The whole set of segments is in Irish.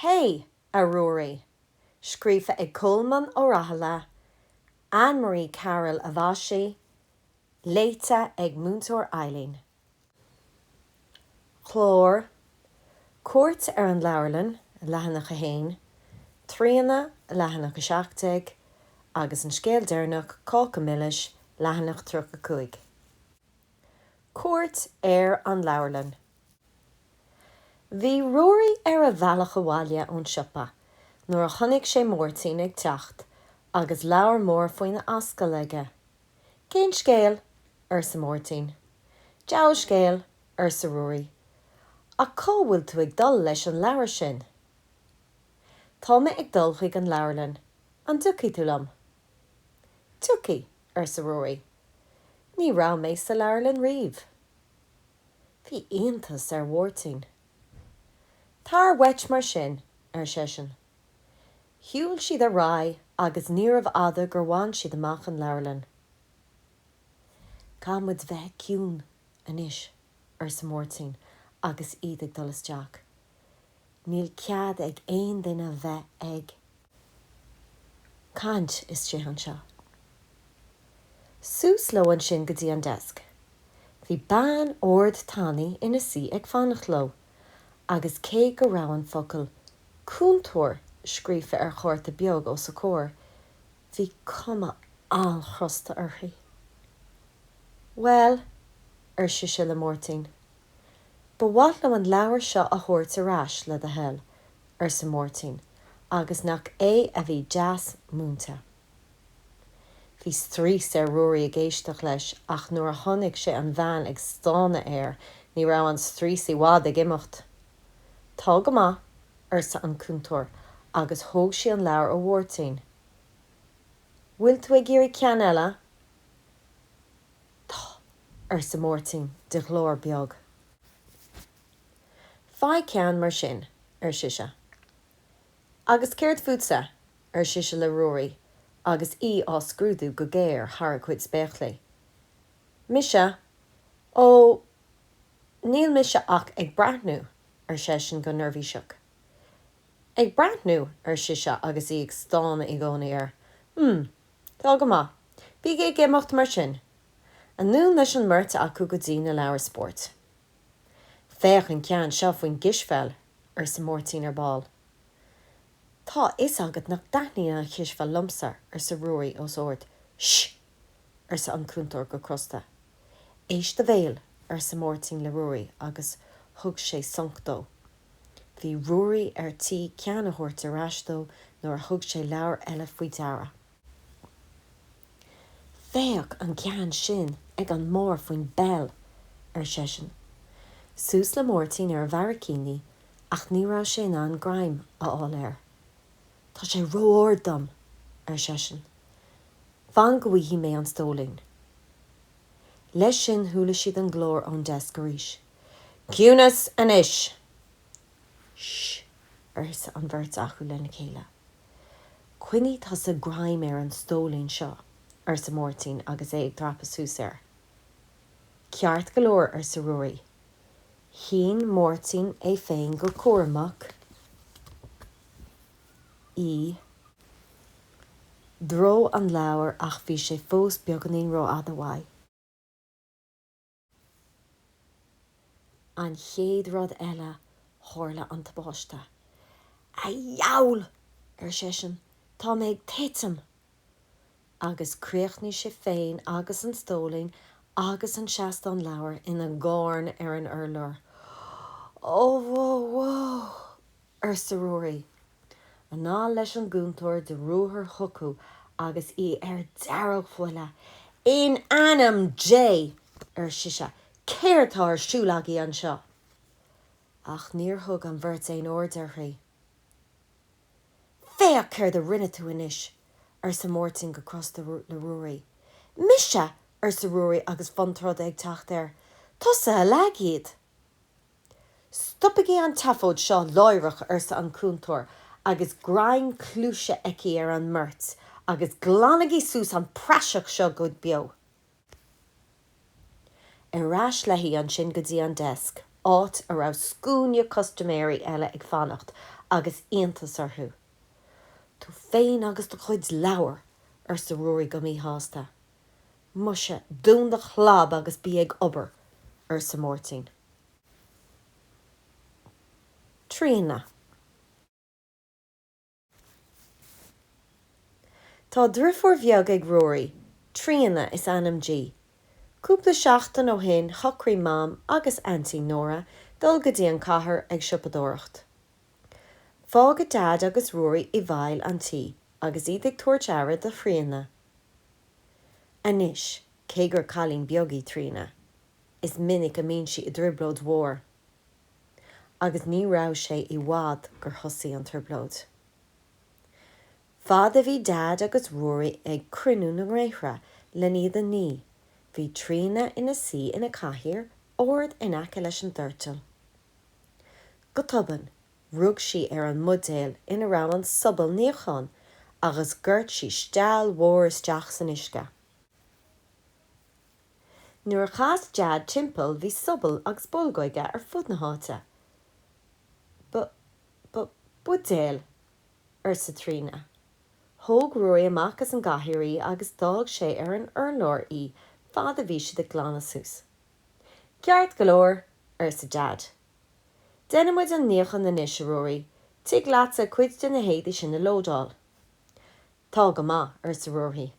Hé, a Ruairí! Scríofa ag Colmán Ó Raghallaigh, Anne Marie Carroll a mhaisigh, léite ag Múinteoir Eileen. Clár, Cuairt ar an leabharlann, leathanach 1, Tríona, leathanach 17, agus an scéal deireanach, Cáca Milis, leathanach 35. Cuairt ar an leabharlann. Bhí Ruairí ar a bhealach abhaile ón siopa nuair a chonaic sé Máirtín ag teacht agus leabhar mór faoina ascaill aige. Cén scéal? arsa Máirtín. Diabhal scéal, arsa Ruairí, ach cá bhfuil tú ag dul leis an leabhar sin? Tá mé ag dul chuig an leabharlann, an dtiocfaidh tú liom? Tiocfaidh, arsa Ruairí, ní raibh mé sa leabharlann riamh. Bhí iontas ar Mháirtín. Téana uait mar sin, ar seisean. Shiúil siad ar aghaidh agus níorbh fhada gur bhain siad amach an leabharlann. Caithfidh muid bheith ciúin anois, arsa Máirtín agus iad ag dul isteach. Níl cead ag aon duine a bheith ag caint istigh anseo. Suas leo ansin go dtí an deasc. Bhí bean ard tanaí ina suí ag fanacht leo agus cé go raibh an focal cúntóir scríofa ar chárta beag os a comhair, bhí cuma an-chrosta uirthi. Bhuel, ar sise le Máirtín. Ba mhaith liom an leabhar seo a thabhairt ar ais, le do thoil, arsa Máirtín, agus nach é a bhí deas múinte. Bhí straois ar Ruairí ag éisteacht leis, ach nuair a chonaic sé an bhean ag stánadh air ní raibh an straois i bhfad ag imeacht. Tá go maith, arsa an cúntóir, agus thóg sí an leabhar ó Mháirtín. Bhfuil tú ag iarraidh ceann eile? Tá, arsa Máirtín de ghlór beag. Faigh ceann mar sin, ar sise. Agus céard fútsa? ar sise le Ruairí agus í á scrúdú go géar thar a cuid spéaclaí. Mise, ó, níl mise ach ag breathnú, ar seisean go neirbhíseach. Ag breathnú? ar sise agus í ag stánadh i gcónaí air. M, Tá go maith. Bígí ag imeacht mar sin. Anonn leis an mbeirt acu go dtí na leabhair spóirt. Féach an ceann seo faoin gcispheil, arsa Máirtín ar ball. Tá a fhios agat nach dtaitníonn an chispheil liomsa, arsa Ruairí os ard. Sh! arsa an cúntóir go crosta. Éist do bhéal, arsa Máirtín le Ruairí agus thug sé sonc dó. Bhí Ruairí ar tí ceann a thabhairt ar ais dó nuair a thug sé leabhar eile faoi deara. 'Féach an ceann sin ag an mbarr faoin bpeil! ar seisean. Suas le Máirtín ar a bharraicíní ach ní raibh sé in ann greim a fháil air. 'Tá sé ró-ard dom! ar seisean. 'Fan go bhfaighidh mé an stóilín. Leis sin chuala siad an glór ón deasc arís. Ciúnas anois! Sh! arsa an bheirt acu lena chéile. Coinnigh tusa greim ar an stóilín seo, arsa Máirtín agus é ag dreapadh suas air. Ceart go leor, arsa Ruairí. Shín Máirtín é féin go cúramach i dtreo an leabhair ach bhí sé fós beagáinín rófhada uaidh. An chéad rud eile tharla an tubáiste. A dheabhail! ar seisean, tá mé ag titim! Agus críochnaigh sé féin agus an stóilín agus an seastán leabhar ina gcarn ar an urlár. Ó, whoa, whoa! arsa Ruairí. Anall leis an gcúntóir de ruathar chucu agus í ar dearg-bhuile. In ainm Dé! ar sise, céard tá ar siúl agaibh anseo? Ach níor thug an bheirt aon aird uirthi. Féach céard a rinne tú anois! arsa Máirtín go crosta le Ruairí. Mise? arsa Ruairí agus fonn troda ag teacht air. Tusa a leag iad! 'Stopaigí an tseafóid seo láithreach, arsa an cúntóir agus greim cluaise aici ar an mbeirt, 'agus glanaigí suas an praiseach seo go beo. Ar ais léi ansin go dtí an deasc, áit a raibh scuaine custaiméirí eile ag fanacht agus iontas orthu. 'Tú féin agus do chuid leabhar! arsa Ruairí go míshásta. Muise, dún do chlab agus bí ag obair, arsa Máirtín. Tríona. Tá deirfiúr bheag ag Ruairí, Tríona is ainm di. Cúpla seachtain ó shin shocraigh Mam agus Aintín Nóra dul go dtí an cathair ag siopadóireacht. Fágadh Daid agus Ruairí i bhfeighil an tí agus iad ag tabhairt aire do Thríona. Anois, cé gur cailín beag í Tríona, is minic a bhíonn sí i dtrioblóid mhór. Agus ní raibh sé i bhfad gur thosaigh an trioblóid. Fad a bhí Deaid agus Ruairí ag cruinniú na ngréithre lena iad a ní, bhí Tríona ina suí ina cathaoir ard in aice leis an doirteal. Go tobann, Rug sí ar an mbuidéal ina raibh an sobal níocháin agus dhoirt sí steall mhór isteach san uisce. Nuair a chas Deaid timpeall bhí sobal agus bolgóidí ar fud na háite. Ba, ba, buidéal, arsa Tríona. Thóg Ruairí amach as an gcathaoir í agus d'fhág sé ar an urlár í fad a bhí siad ag glanadh suas. Ceart go leor, arsa Deaid. Déanfaidh muid an níochán anois, a Ruairí, an dtig leatsa cuid de na héadaí sin a lódáil? Tá go maith, arsa Ruairí.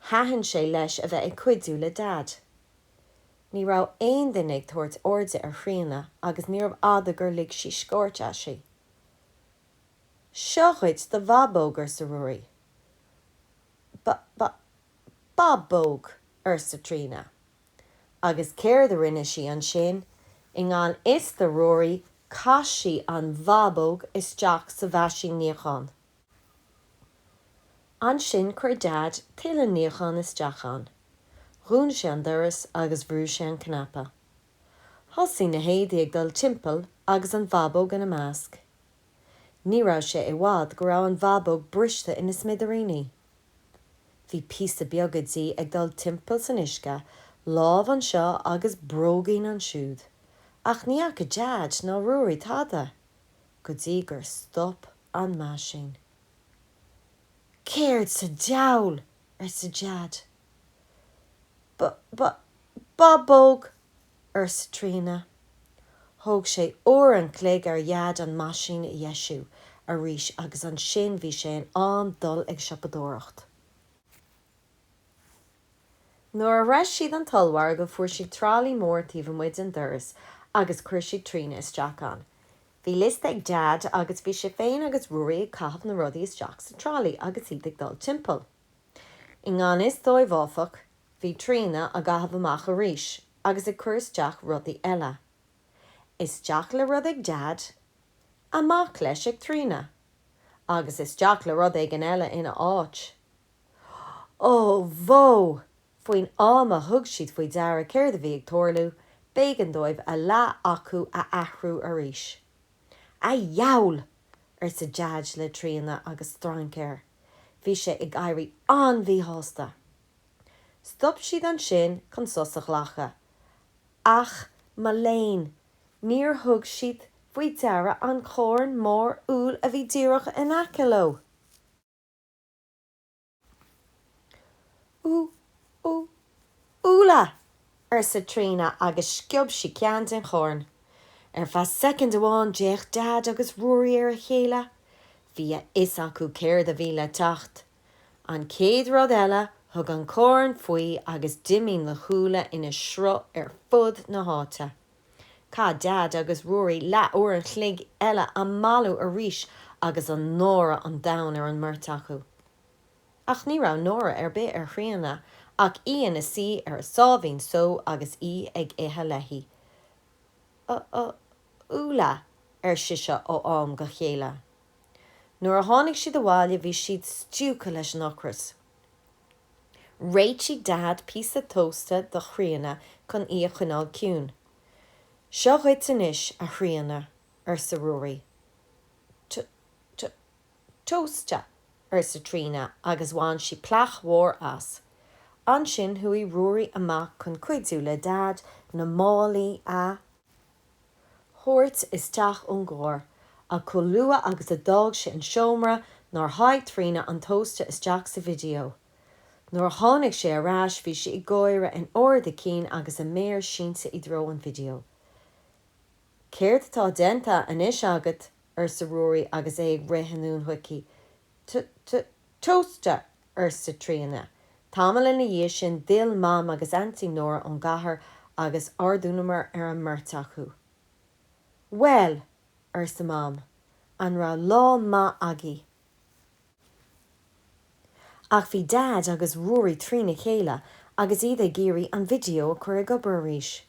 Thaitin sé leis a bheith ag cuidiú le Deaid. Ní raibh aon duine ag tabhairt airde ar Thríona agus níorbh fhada gur lig sí scairt aisti. Seo dhuit do bhábóg, arsa Ruairí. Ba, ba, bábóg! arsa Tríona. Agus céard a rinne sí ansin? I ngan fhios do Ruairí, chaith sí an bhábóg isteach sa mheaisín níocháin. Ansin chuir Deaid tuilleadh níocháin isteach ann, dhún sé an doras agus bhrú sé an cnaipe. Thosaigh na héadaí ag dul timpeall agus an bhábóg ina measc. Ní raibh sé i bhfad go raibh an bhábóg briste ina smidiríní. Bhí píosaí beaga di ag dul timpeall san uisce, lámh anseo agus bróigín ansiúd, ach ní fhaca Deaid ná Ruairí tada go dtí gur stop an meaisín. Céard sa diabhal! arsa Deaid. Ba, ba, bábóg! arsa Tríona. Thóg sé uair an chloig ar Dheaid an meaisín a dheisiú arís agus ansin bhí sé in am dul ag siopadóireacht. Nuair a shroich siad an t-ollmhargadh fuair siad tralaí mór taobh amuigh den doras agus chuir siad Tríona isteach ann. Bhí liosta ag Deaid agus bhí sé féin agus Ruairí ag caitheamh na rudaí isteach sa tralaí agus iad ag dul timpeall. I ngan fhios dóibh áfach, bhí Tríona á gcaitheamh amach arís agus ag cur isteach rudaí eile. Isteach le rud ag Deaid, amach leis ag Tríona, agus isteach le rud éigin eile ina áit. Ó bhó! Faoin am a thug siad faoi deara céard a bhí ag tarlú, b'éigean dóibh a leath acu a athrú arís. A dhiabhail! arsa Deaid le Tríona agus strainc air. Bhí sé ag éirí an-mhíshásta. Stop siad ansin chun sos a ghlacadh, ach mo léan, níor thug siad faoi deara an carn mór úll a bhí díreach in aice leo! Ú! Ú! Úlla! arsa Tríona agus sciob sí ceann den charn. Ar feadh soicind amháin d'fhéach Daid agus Ruairí ar a chéile. Bhí a fhios acu céard a bhí le teacht. An chéad rud eile thug an carn faoi agus d'imigh na húlla ina sruth ar fud na háite. Chaith Daid agus Ruairí leathuair a chloig eile á mbailiú arís agus náire an domhain ar an mbeirt acu. Ach ní raibh náire ar bith ar Thríona ach í ina suí ar a sáimhín só agus í ag ithe léi. 'Ú ú úlla, ar sise ó am go céile. Nuair a tháinig siad abhaile bhí siad stiúgtha leis an ocras. Réitigh Daid píosa tósta do Thríona chun í a choinneáil ciúin. 'Seo duit anois, a Thríona, arsa Ruairí. 'T t Tósta! arsa Tríona agus bhain sí plaic mhór as. Ansin chuaigh Ruairí amach chun cuidiú le Daid na málaí a thabhairt isteach ón gcarr, ach chomh luath agus a d'fhág sé an seomra nár sháigh Tríona an tósta isteach sa video. Nuair a tháinig sé ar ais bhí sí ag gáire in ard a cinn agus a méar sínte i dtreo an video. Céard atá déanta anois agat? arsa Ruairí agus é ag rith anonn chuici. T, T, Tósta! arsa Tríona. Tamall ina dhiaidh sin, d'fhill Mam agus Aintín Nóra ón gcathair agus ardghiúmar ar an mbeirt acu. Bhuel! arsa Mam, an raibh lá maith agaibh? Ach bhí Daid agus Ruairí trína chéile agus iad ag iarraidh an video a chur ag obair arís.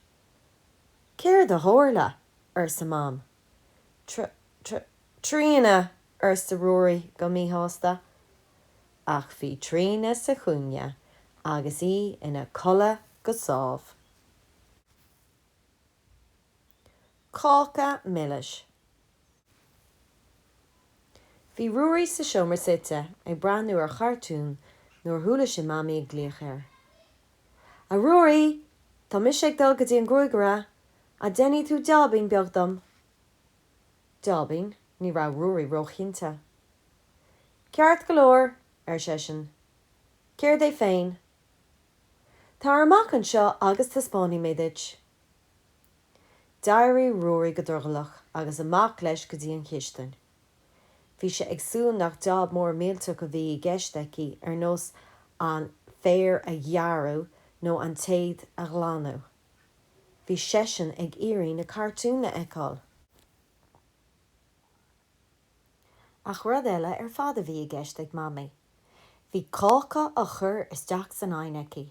Céard a tharla? arsa Mam. Tríona! arsa Ruairí go míshásta. Ach bhí Tríona sa chúinne agus í ina codladh go sámh. Cáca milis. Bhí Ruairí sa seomra suite ag breathnú ar chartún nuair a chuala sé Mamaí ag glaoch air. A Ruairí, tá mise ag dul go dtí an gruaigaire, an ndéanfaidh tú jaibín beag dom? Jaibín? Ní raibh Ruairí róchinnte. Ceart go leor, ar seisean, céard é féin? Tar amach anseo agus taispeánfaidh mé duit. D'éirigh Ruairí go drogallach agus amach leis go dtí an chistin. Bhí sé ag súil nach job mór millteach a bhí i gceist aici, ar nós an féar a ghearradh nó an tseid a ghlanadh. Bhí seisean ag iarraidh na cartúin a fheiceáil. Ach rud eile ar fad a bhí i gceist ag Mamaí. Bhí cáca á chur isteach san oigheann aici.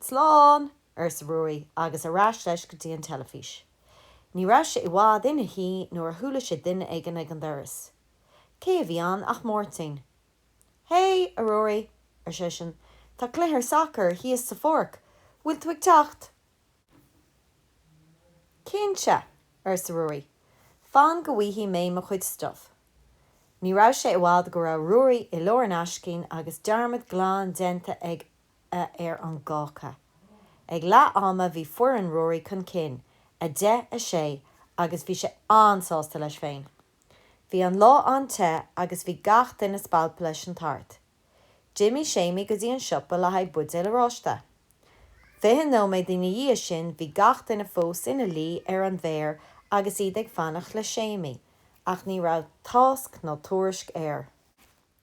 Slán! arsa Ruairí agus ar ais leis go dtí an teilifís. Ní raibh sé i bhfad ina shuí nuair a chuala sé duine éigin ag an doras. Cé a bhí ann ach Máirtín. Hé, a Ruairí, ar seisean, tá cluiche sacair thíos sa pháirc, bhfuil tú ag teacht? Cinnte! arsa Ruairí, fan go bhfaighidh mé mo chuid stuif. Ní raibh sé i bhfad go raibh Ruairí i lár an aicsin agus dearmad glan déanta ag ar an gcáca. Ag leath ama bhí foireann Ruairí chun cinn, 10, 6, agus bhí sé an-sásta leis féin. Bhí an lá an-te agus bhí gach duine spalptha leis an tart. D'imigh Séimí go dtí an siopa le haghaidh buidéal oráiste. Fiche nóiméad ina dhiaidh sin bhí gach duine fós ina luí ar an bhféar agus iad ag fanacht le Séimí ach ní raibh tásc ná tuairisc air.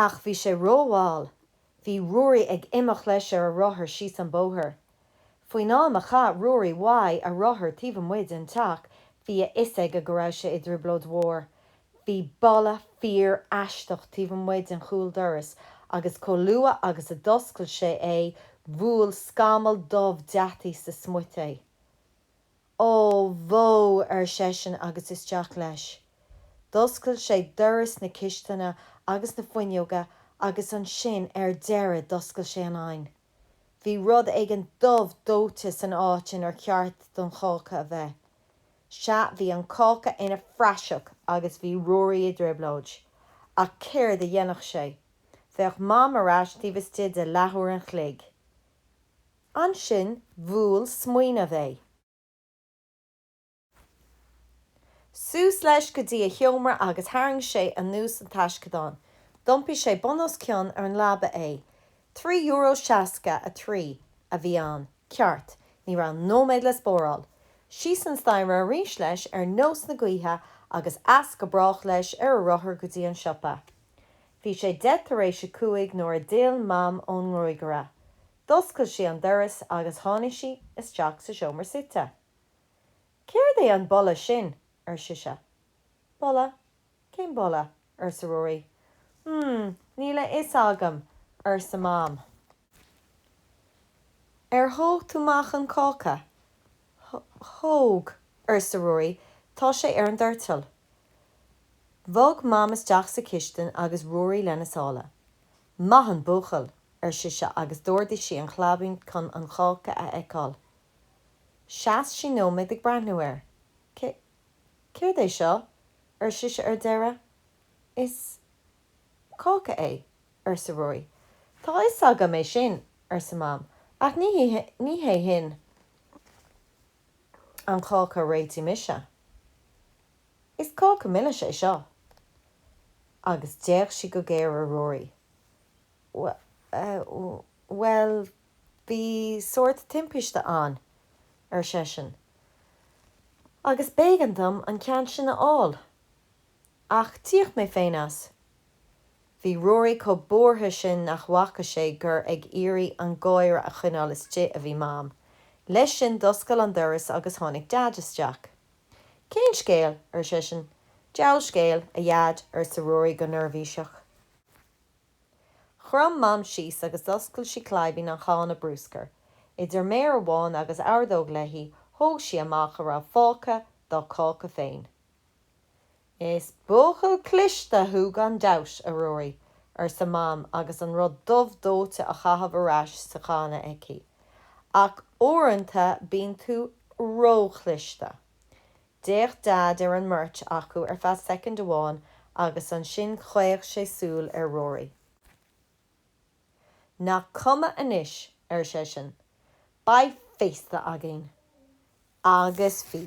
Ach bhí sé rómhall, bhí Ruairí ag imeacht leis ar a rothar síos an bóthar. Faoin am a chaith Ruairí uaidh a rothar taobh amuigh den teach bhí a fhios aige go raibh sé i dtrioblóid mhór, bhí boladh fíor-aisteach taobh amuigh den chúldoras agus chomh luath agus a d'oscail sé é bhuail scamall dubh deataigh sa smuit é. Ó bhó! ar seisean agus isteach leis. D'oscail sé doras na cisteanadh agus na fuinneoga agus ansin ar deireadh d'oscail sé an oigheann. Bhí rud éigin dubh dóite san áit inar cheart don cháca a bheith. Sea, bhí an cáca ina phraiseach agus bhí Ruairí i dtrioblóid. Ach céard a dhéanfadh sé? Bheadh Mam ar ais taobh istigh de leathuair an chloig. Ansin bhuail smaoineamh é. Suas leis go dtí a sheomra agus tharraing sé anuas an taisceadán. D'iompaigh sé bun os cionn ar an leaba é. Trí euro seasca a trí a bhí ann, ceart. Ní raibh nóiméad le spáráil. Síos an staighre arís leis ar nós na gaoithe agus as go brách leis ar a rothar go dtí an siopa. Bhí sé deich tar éis a cúig nuair a d'fhill Mam ón ngruagaire. D'oscail sí an doras agus tháinig sí isteach sa seomra suite. Céard é an boladh sin? ar sise. Boladh? Cén boladh? arsa Ruairí. Mmm, níl a fhios agam, arsa Mam. Ar thóg tú amach an cáca? Th, thóg, arsa Ruairí, tá sé ar an doirteal. Bhog Mam isteach sa chistin agus Ruairí lena sála. Maith an buachaill, ar sise agus d'ardaigh sí an chlaibín chun an cáca a fheiceáil. Sheas sí nóiméad ag breathnú air. Cé. céard é seo? ar sise ar deireadh. Is. cáca é, arsa Ruairí. Tá 'fhios agam é sin, arsa Mam, ach ní hé. ní hé sin an cáca a réitigh mise. Is cáca milis é seo. Agus d'fhéach sí go géar ar Ruairí. Bhuel, bhí sórt timpiste ann, ar seisean, agus b'éigean dom an ceann sin a fháil, ach d'íoc mé féin as. Bhí Ruairí chomh buartha sin nach bhfaca sé gur ag iarraidh an gáire a choinneáil istigh a bhí Mam. Leis sin d'oscail an doras agus tháinig Daid isteach. Cén scéal? ar seisean. Diabhal scéal, a Dheaid, arsa Ruairí go neirbhíseach. Chrom Mam síos agus d'oscail sí claibín an channa brúscair. Idir méar amháin agus ordóg léi thóg sí amach a raibh fágtha dá cáca féin. Is buachaill cliste thú gan dabht, a Ruairí, arsa Mam agus an rud dubh dóite á chaitheamh ar ais sa channa aici, ach uaireanta bíonn tú róchliste. D'fhéach Deaid ar an mbeirt acu ar feadh soicind amháin agus ansin chaoch sé súil ar Ruairí. Nach cuma anois, ar seisean, beidh féasta againn! Agus bhí.